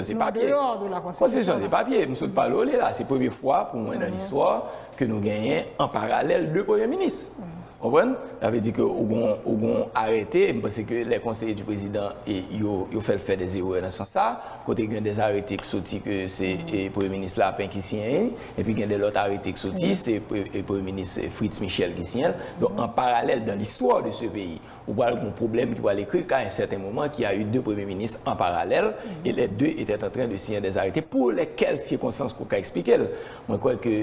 Se papye. Konstitisyon se papye. M sot pale w li la. Se premye fwa pou mwen nan listwa ke nou genyen an paralèl 2 premye minis. Ou konprann? Sa vle di ke ou gon arete, m panse ke lè konseye di prezidan e yo fè l fè des erè nan sans sa, kote gen des arete ki soti ke se premye minis Lapin ki siyen li, epi gen de lòt arete ki soti se premye minis Fritz Michel ki siyen l. Donk an paralèl dan listwa de se peyi. Ou pral gon pwoblèm ki pral ekri ka un certain moment qui a eu deux premiers ministres en parallèle et les deux etaient en train de signer des arrêtés pour lesquels circonstances ke w ka eksplike l. Mwen kwè ke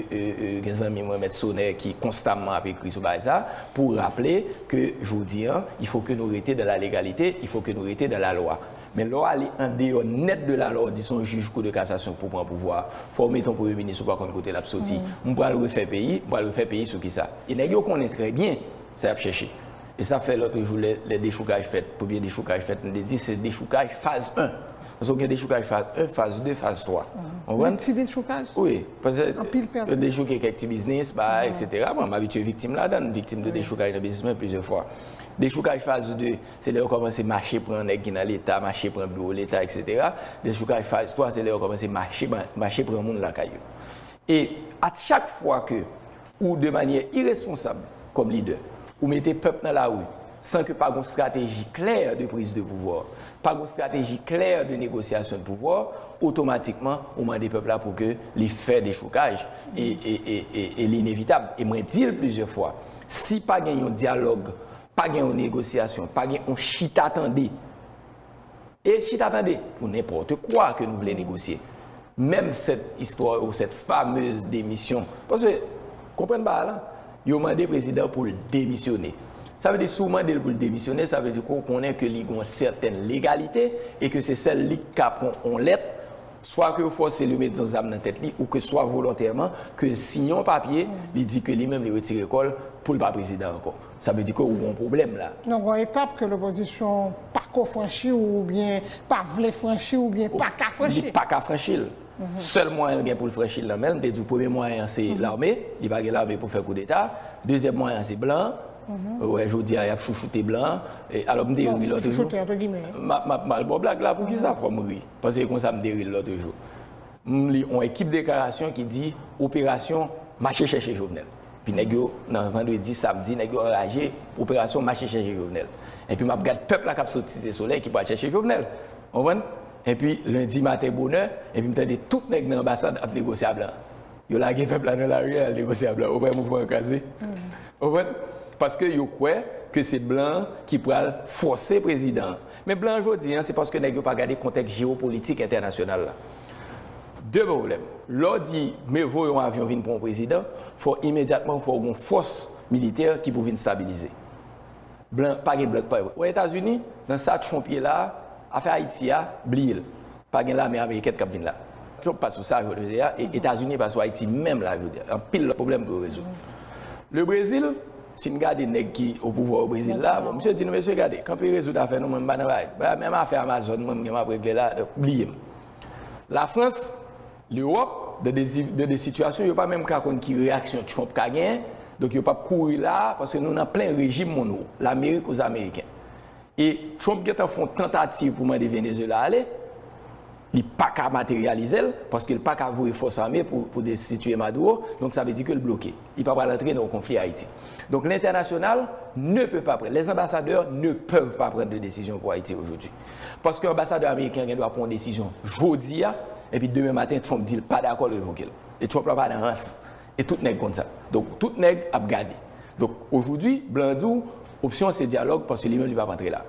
gen zanmi mwen Mèt Sonè ki konstamman ap ekri sou bagay sa a pou raple ke jodi an il faut ke nou rete dans la légalité, il faut ke nou rete dans la loi. Men lè w ale andeyò nèt de la loi w di son jij kou de kasasyon pou pran pouvwa a, fò w mete yon premye minis ou pa konn kote l ap soti. M pral refè peyi, m pral refè peyi sou kisa? E nèg yo konnen trè byen. Sa y ap chèche. E sa fè lòt jou lè lè dechoukaj fèt, premye dechoukaj fèt, m te di se dechoukaj faz 1. Paske ou gen dechoukaj faz 1, faz 2, faz 3. Konprann? Gen ti dechoukaj? Wi. Pase Anpil pèdi. yo dechouke kèk ti biznis, bay, eksetera. Bon, m abitye viktim ladan l, viktim de dechoukaj nan biznis mwen plizyè fwa. Dechoukaj faz 2, se lè yo kòmanse mache pran nèg ki nan Leta, mache pran biwo Leta, eksetera. Dechoukaj faz 3, se lè yo kòmanse mache ban, mache pran moun lakay yo. E a chak fwa ke Ou de manyè iresponsab kòm lidè, ou mete pèp nan lari san ke pa gon strateji klè de priz de pouvwa, pa gon strateji klè de negosyasyon de pouvwa, otomatikman ou mande pèp la pou ke li fè dechokaj e li inevitab. E mwen di l plizyè fwa, si pa gen yon dyalòg, pa gen yon negosyasyon, pa gen yon chita tande, E chita tande pou nenpòte kwa ke nou vle negosye. Menm sèt istwa yo, sèt famez demisyon. Paske, konprann bagay la, yo mande prezidan pou l demisyone. Sa vle di si w mande l pou l demisyone, sa vle di ke w konnen ke li gen yon sèten legalite e ke se sèl li ki ka pran yon lèt, swa ke yo fòse l, yo met yon zam nan tèt li, ou ke swa volontèman, ke l siyen yon papye, li di ke li menm li retire kò l, pou l pa prezidan ankò. Sa vle di ke ou gon pwoblèm la. Non gon etap ke lopozisyon pako franchi ou byen pa vle franchi ou byen pa ka franchi. Li pa ka franchi l. Sèl mwayen l gen pou l franchi l nan men l, m te di w premye mwayen an se lame, li pa gen lame pou fè koudeta. Dezyèm mwayen an se blan. Ou wè jodi a y ap chouchoute blan. Alò m te ri lòt jou. Chouchoute antre gimè. M ap mal bon blag la, poukisa fò m ri? Paske e konsa m te ri l lòt jou. M li on ekip deklarasyon ki di operasyon mache chèche Jovenel. Epi nèg yo nan vandredi, samdi nèg yo anraje operasyon mache chèche Jovenel. Epi map gad pèp la kap sot site solèy ki pwal chèche Jovenel. Konprann? Epi lendi maten bonè, epi m tande tout nèg nan anbasad ap negosye a blan. Yo lage pèp la nan lari al negosye a blan. Ou wè mouvman an kraze? Konprann? Paske yo kwè ke se blan ki pwal fòse prezidan an. Men blan jodi an se paske nèg yo pa gade kontèks jewopolitik entènasyonal la. De pwoblèm. Lè w di mieux vaut yon avyon vin pran w prezidan, fò imedyatman fò w gen yon fòs militè ki pou vin stabilize. Blan, pa gen blan k pa wè. Wè Etazini, nan sa Trump ye la a, afè Ayiti a, bliye l. Pa gen lame amerikèn kap vin la. Trump pa sou sa jodye a, e Etazini pa sou Ayiti menm la jodye a. Anpil lòt pwoblèm pou yo rezoud. Le Brezil, si n gade nèg ki o pouvwa o Brezil la, bon misye di nou mesye gade, kanpe rezoud afè nou mwen m pa nan bagay. Ba menm afè Amazon mwen m gen m ap regle la, donk bliye m. La Frans, Lewòp, de de zi, de de sitiyasyon yo pa menm ka konn ki reyaksyon Trump ka gen, donk yo pap kouri la a, paske nou nan plen rejim monwo. Lamerik ouz ameriken. E Trump gentan fon tantativ pou mande Venezuela ale, li paka materializel paskel paka voye fòs ame pou destitye Maduro, donk sa vle di kel bloke, li pa pral antre nan yon konfli Ayiti. Donk lentènasyonal ne peut pas pran, les ambassadeurs ne peuvent pas prendre de décision pour Haïti aujourd'hui. Paske anbasadè ameriken an gen dwa pran yon desizyon jodi a, epi demen maten Trump dil pa dakòl revokel. E Trump la pa nan rans. E tout nèg konn sa. Donk tout nèg ap gade. Donk ojoudwi blan an di w opsyon an se dyalòg paske li menm li pa p antre la.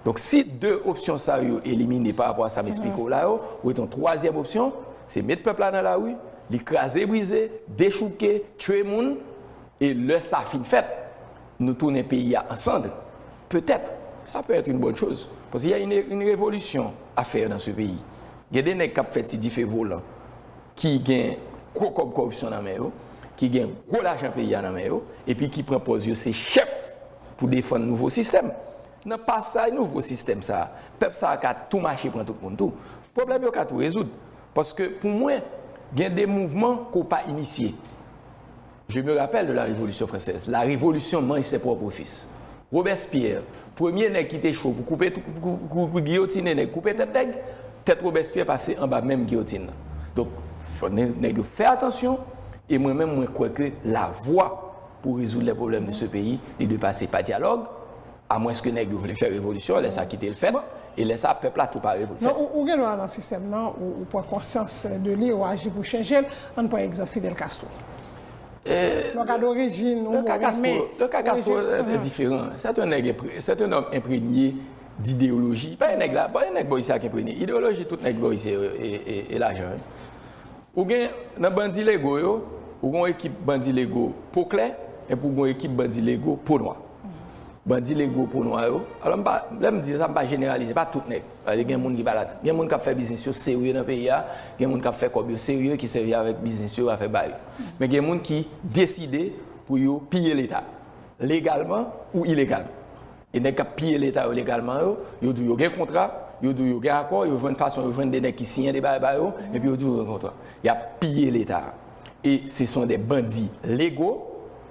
Donk si 2 opsyon sa yo elimine pa rapò a sa m esplike w la yo, ou gen yon twazyèm opsyon, se met pèp la nan lari, li kraze brize, dechouke, tchwe moun, e lè sa fin fèt, nou tounen peyi a an sandre. Petèt, sa pè èt yn bòn choz. Paske y a yn revolisyon a fèr nan se peyi. Gen de nèg k ap fè ti dife volan. ki gen gwo kòb kòripsyon nan men yo, ki gen gwo lajan peyi a nan men yo, epi ki pran pòz yo se chèf pou defann nouvo sistèm. Nan pasaj nouvo sistèm sa a, pèp sa a ka tou mache pran tout moun tou. Pwoblèm yo ka tou rezoud. Paske pou mwen, gen de mouvman ke w pa inisye. Je me rappelle de la Révolution française, la Révolution mange ses propres fils. Robespierre, premye nèg ki te cho pou koupe, pou giyotine nèg, koupe tèt nèg, tèt Robespierre pase anba menm giyotine nan. Donk, fò nèg yo fè atansyon, e mwen menm mwen kwè ke la vwa pou rezoud lè pwoblèm de se peyi, li dwe pase pa dyalòg, Amwenske nèg yo vle fè revolisyon, lè sa kite l fèt, e lè sa pèp la tou pare pou l fèt. Non, ou gen dwa nan sistèm nan, ou pran konsyans de li, ou aji pou chanje l. An n pran egzanp Fidel Castro. Lè w gade orijin, ou mou renmen orijin. Le ka Castro te diferan. Sèt yon nèg, sèt yon nòm enprenye d'ideoloji. Pa yon nèg la, pa yon nèg Boris la ki enprenye. Ideoloji tout nèg Boris se yo e lajan. Ou gen nan bandi lego yo, ou gen yon ekip bandi lego po klè, epi ou gen yon ekip bandi lego po nwa. Bandi lego po nwa yo. Alò m pa, lè m di sa, m pa jeneralize, pa tout nèg. Paske gen moun ki pa ladan. Gen moun k ap fè biznis yo serye nan peyi a, gen moun k ap fè kòb yo serye ki sèvi avèk biznis yo, afè ba yo. Men gen moun ki deside pou yo piye Leta, legalman ou ilegalman. E nèg k ap piye Leta yo legalman yo, yo di w yo gen kontra, yo di w yo gen akò, yo jwenn fason, yo jwenn de nèg ki siyen de bagay ba yo, epi yo di w yo gen kontra. Y ap piye Leta a. E se son de bandi lego,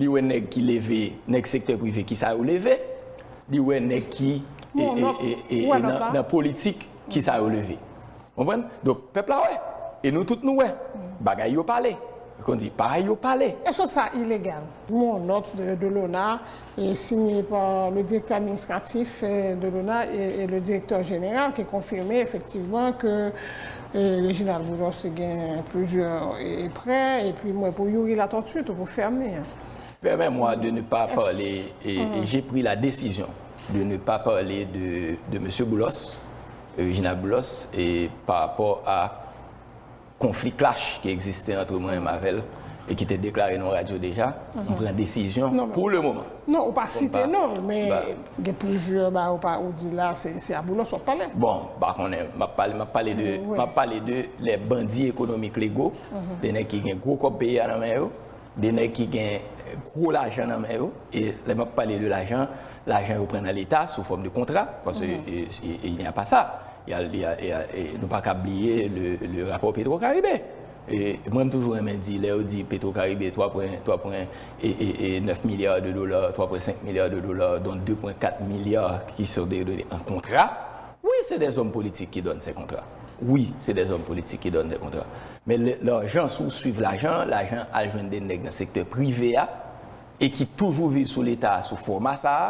Li wè nèg ki leve, nèg sektè prive kisa yo leve, li wè nèg ki nan politik kisa yo leve. Konprann? Donk pèp la wè. E nou tout nou wè. Bagay yo pale. Kon di, parèy yo pale. Eske sa ilegal? Yon nòt de l'ONA sinye pa le direktè administratif de l'ONA e le direktè jeneral ki konfime efektivman ke E Reginald Boulos te gen plizyè prè epi mwen pou Youri Latortue tou pou fèm li an. Permets moi de ne pas parler et j'ai pris la décision de ne pas parler de Monsieur Boulos, Reginald Boulos et par rapport à conflit clash ki existe entre mwen avèl et ki te déclaré nan radio déjà, m pran décision pour le moment. Non ou pa site non l men gen plizyè bagay ou pa ou di la se a boulos wap pale. Bon m pa konnen map pale map pale de map pale de lè bandi ekonomik lego de nèg ki gen gwo kòb peyi a nan men yo de nèg ki gen gwo lajan nan men yo e lè map pale de lajan lajan yo pran nan leta sou fòm de kontra paske e il nya pa sa nou pa ka bliye le rapò petro karibe. Mwen m toujou renmen di lè yo di petro karibe 3 pwen 3 pwen 9 milyar de dola 3 pwen 5 milyar de dola don 2 pwen 4 milyar ki son de done an kontra wi se de zòm politik ki done se kontra wi se de zòm politik ki done de kontra men lè lajan si w swiv lajan lajan al jwenn de nèg nan sektè prive a e ki toujou viv sou leta a sou fòma sa a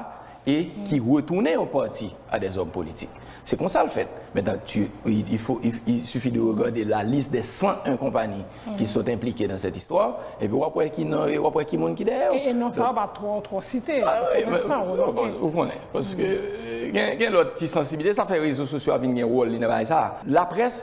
e ki retounen yon pati a dè zòm politik. Se konsa l fèt. Mentan, tu, il faut, il suffit de regarder la liste des 101 konpani ki sot enplike nan sèt istwa, epi w ap wè ki non yo, w ap wè ki moun ki dèyè yo. E non sa yo pa twò, twò site, pou lenstan, ou remake. Ou konnen. Paske gen lòt ti sansibilite, sa fè rezo sosyo a vin gen wòl li nan bagay sa a. Laprès.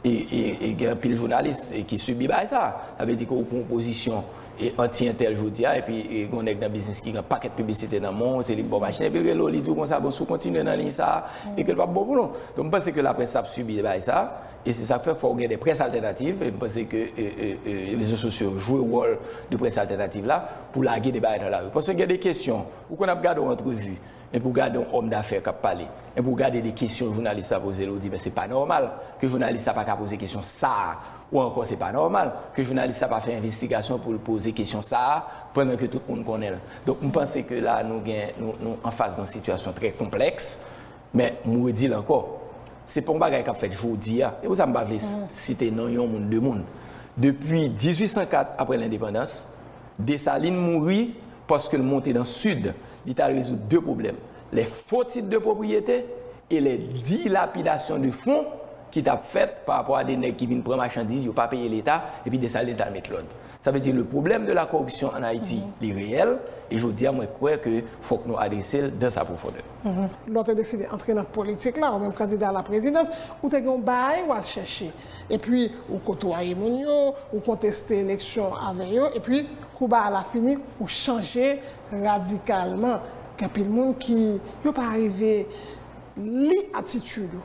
E gen anpil jounalis ki sibi bagay sa. Sa vle di ke ou pran yon pozisyon anti entèl jodi a, epi gen yon nèg nan biznis ki gen yon pakèt piblisite nan men w, se li k ba w machin, epi l rele w, li di w konsa, bon si w kontinye nan liy sa a, e ke l pa p bon pou nou. Donk m panse ke laprès la ap sibi bagay sa, e se sa k fè fò w gen de près altènativ, e m panse ke rezo sosyo yo jwe wòl de près altènativ la pou lage de bagay nan lari. Paske gen de kesyon, ou konn ap gade yon antrevi, Epi w gade yon homme d'affaires kap pale, epi w gade de kesyon jounalis la poze l, ou di men se pa nòmal ke jounalis la pa ka poze kesyon sa a, ou ankò se pa nòmal ke jounalis la pa fè envestigasyon pou l poze kesyon sa a pandan ke tout moun konnen l. Donk m panse ke la nou gen, nou anfas yon sitiyasyon trè konplèks, men m redi l ankò, se pa yon bagay kap fèt jodi a, se pou sa m pa vle site non yon moun, de moun. Depi 1804 aprè lendepandans, Dessalines mouri, Paske l monte nan Sid, li ta rezoud de pwoblèm, lè fo tit de pwopriyete e lè dilapidasyon de fon ki t ap fèt pa rapò a de nèg ki vin pran machandiz, yo pa peye Leta, epi de sa Leta al met lòd. Sa vle di le pwoblèm de la koripsyon an Ayiti, li reyèl, e jodi a mwen kwè ke fòk nou adrese l dans sa pwofondè. Lè w te deside antre nan politik la, ou menm kandida a la prezidans, ou te gen yon baay ou al chèche. epi ou kotwaye moun yo, ou konteste eleksyon avè yo, epi kou ba la fini ou chanje radikalman. Gen anpil moun ki yo pa rive li atitid ou.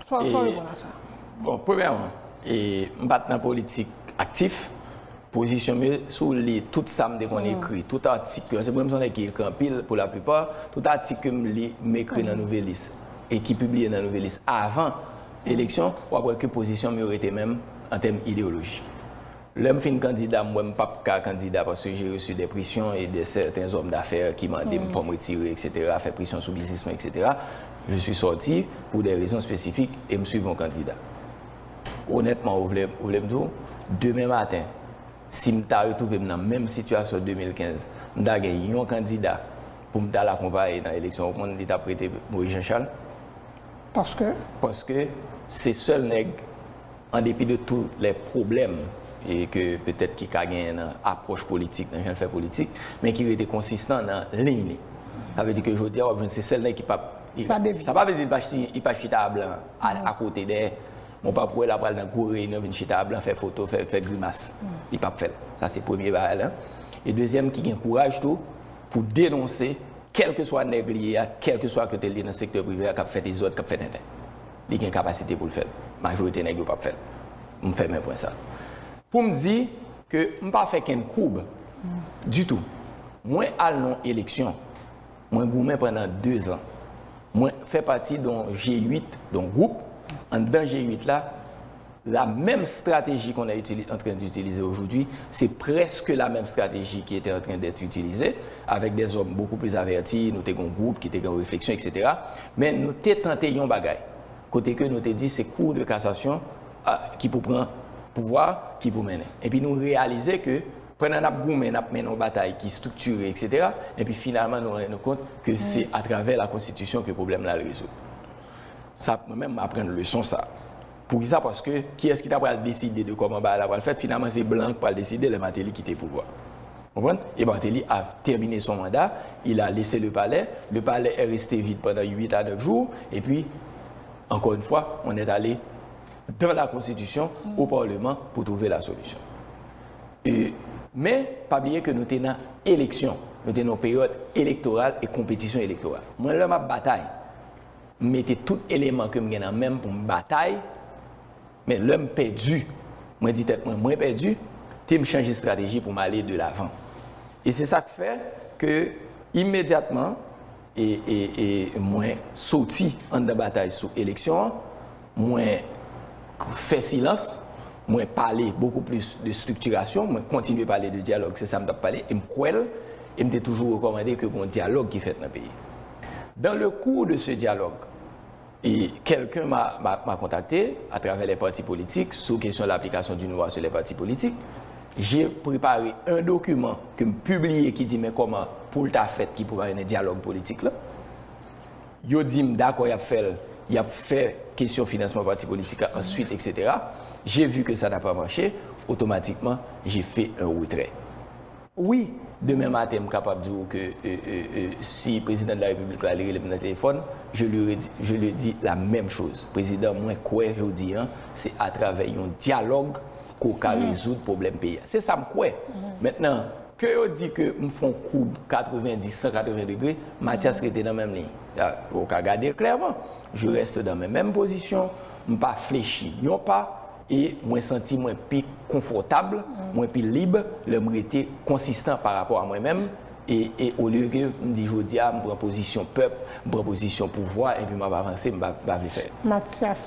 Sa w reponn a sa? Bon, premyèman, m pa t nan politik aktif. Pozisyon m yo, si w li tout sa m te konn ekri, tout atik yo, paske mwen m son nèg ki ekri anpil pou laplipa, tout atik ke m li, m ekri nan Nouvelliste e ki pibliye nan Nouvelliste avan. eleksyon, w ap wè ke pozisyon m yo rete menm an tèm ideyoloji. Lè m fin kandida, m wè m pa p ka kandida paske je resu dè presyon e dè sèten zòm dafè ki mande m pou m retire eksetera, fè presyon sou biznis mwen eksetera. Je sui sòti pou dè rezon espesifik e m suiv yon kandida. Onètman, ou vle ou vle m di w, demen maten, si m ta retwouve m nan menm sitiyasyon 2015, m ta gen yon kandida pou m t al akonpaye nan eleksyon, ou konn li t ap rete Moyiz Janchal? Paske? Paske se sèl nèg, an depi de tou lè pwoblèm e ke petèt ki ka genyen nan apwòch politik, nan jan l fè politik, men ki rete konsistan nan liy li. Sa vle di ke jodi a w ap jwenn se sèl nèg ki p ap. Ki pa devye. Sa pa vle di li pa chita a blan, akote dèyè. Men w p ap wè l ap pral nan gwo reyinyon vin chita a blan fè foto, fè grimas. Li p ap fè l. Sa se premye bagay la. E dezyèm ki gen kouraj tou pou denonse Kèlkeswa nèg li ye a, kèlkeswa kote l ye nan sektè prive a k ap fè dezòd, k ap fè tenten. Li gen kapasite pou l fè l. Majorite nèg yo p ap fè l. M fèmen pwen sa. Pou m di ke m pa fè kenn koub ditou. Mwen al nan yon eleksyon. Mwen goumen pandan dezan. Mwen fè pati de yon G8, de yon gwoup. Anndan G8 la, La menm strateji kon è itili antren d'itilize ojoudwi, se prèske la menm strateji ki ete antren dèt itilize, avèk dè zòm bokou plis avèti, nou te gen yon gwoup ki te gen yon refleksyon eksetera, men nou te tante yon bagay, kote ke nou te di se Cour de Cassation a ki pou pran pouvwa a, ki pou mennen. Epi nou reyalize ke pandan n'ap goumen, n'ap mennen yon batay ki striktire eksetera, epi finalman nou rann nou kont ke se atravè la konstitisyon ke pwoblèm la al rezoud. Sa mwen menm m'aprann leson sa. Poukisa? Paske kiyès ki ta pral deside de kòman bagay la pral fèt? Finalman se blan an ki pral deside lè Martelly kite pouvwa a. Ou konprann? E Martelly a termine son mandat, il a laisse le palais, le palais est resté vide pendant 8 à 9 jours et puis encore une fois on est allé dans la constitution, au parlement pour trouver la solution. Men, pa bliye ke nou te nan eleksyon, nou te nan yon peryòd elektoral e konpetisyon elektoral. Mwen lè m ap batay. M mete tout eleman ke m gen nan men m pou m batay, men lè m pèdi, mwen di tèt mwen, mwen pèdi, te m chanje strateji pou m ale de lavan. E se sa k fè ke imedyatman e, e, e mwen soti anndan batay sou eleksyon an, Mwen fè silans, mwen pale bokou plis de striktirasyon, mwen kontinye pale de dyalòg, se sa m t ap pale e m kwè l e m te toujou rekòmande ke gon dyalòg ki fèt nan peyi. Dan le kou de se dyalòg, e kèlken ma ma kontakte atravè lè pati politik sou kesyon laplikasyon d'une loi sur les partis politiques, je prepare un document ke m pibliye ki di men kòman pou l ta fèt ki pou ta mennen dyalòg politik lan. Yo di m dakò y ap fè l, y ap fè kesyon finansman pati politik la answit eksetera. Je vu ke sa n'a pa mache, otomatikman je fe un retrè. Wi, demen maten m kapab di w ke si Prezidan de la Repiblik la li rele m nan telefòn, je lui redi, je lui di la menm choz, Prezidan mwen kwè jodi an se atravè yon dyalòg ke w ka rezoud pwoblèm peyi a. Se sa m kwè. Mentnan, Ke yo di ke m fon koub 90, 180 degre, Matyas rete nan menm liy. Ou ka gade l klèman. Je reste dans mes mêmes positions. M pa flechi yon pa e mwen santi mwen pi konfòtab, mwen pi lib lè m rete konsistan pa rapò a mwen menm e olye ke m di jodi a m pran pozisyon pèp, m pran pozisyon pouvwa epi m ap avanse, m pa vle fè. Matyas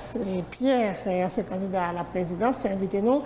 Pierre, ansyen kandida a la prezidans, se envite nou.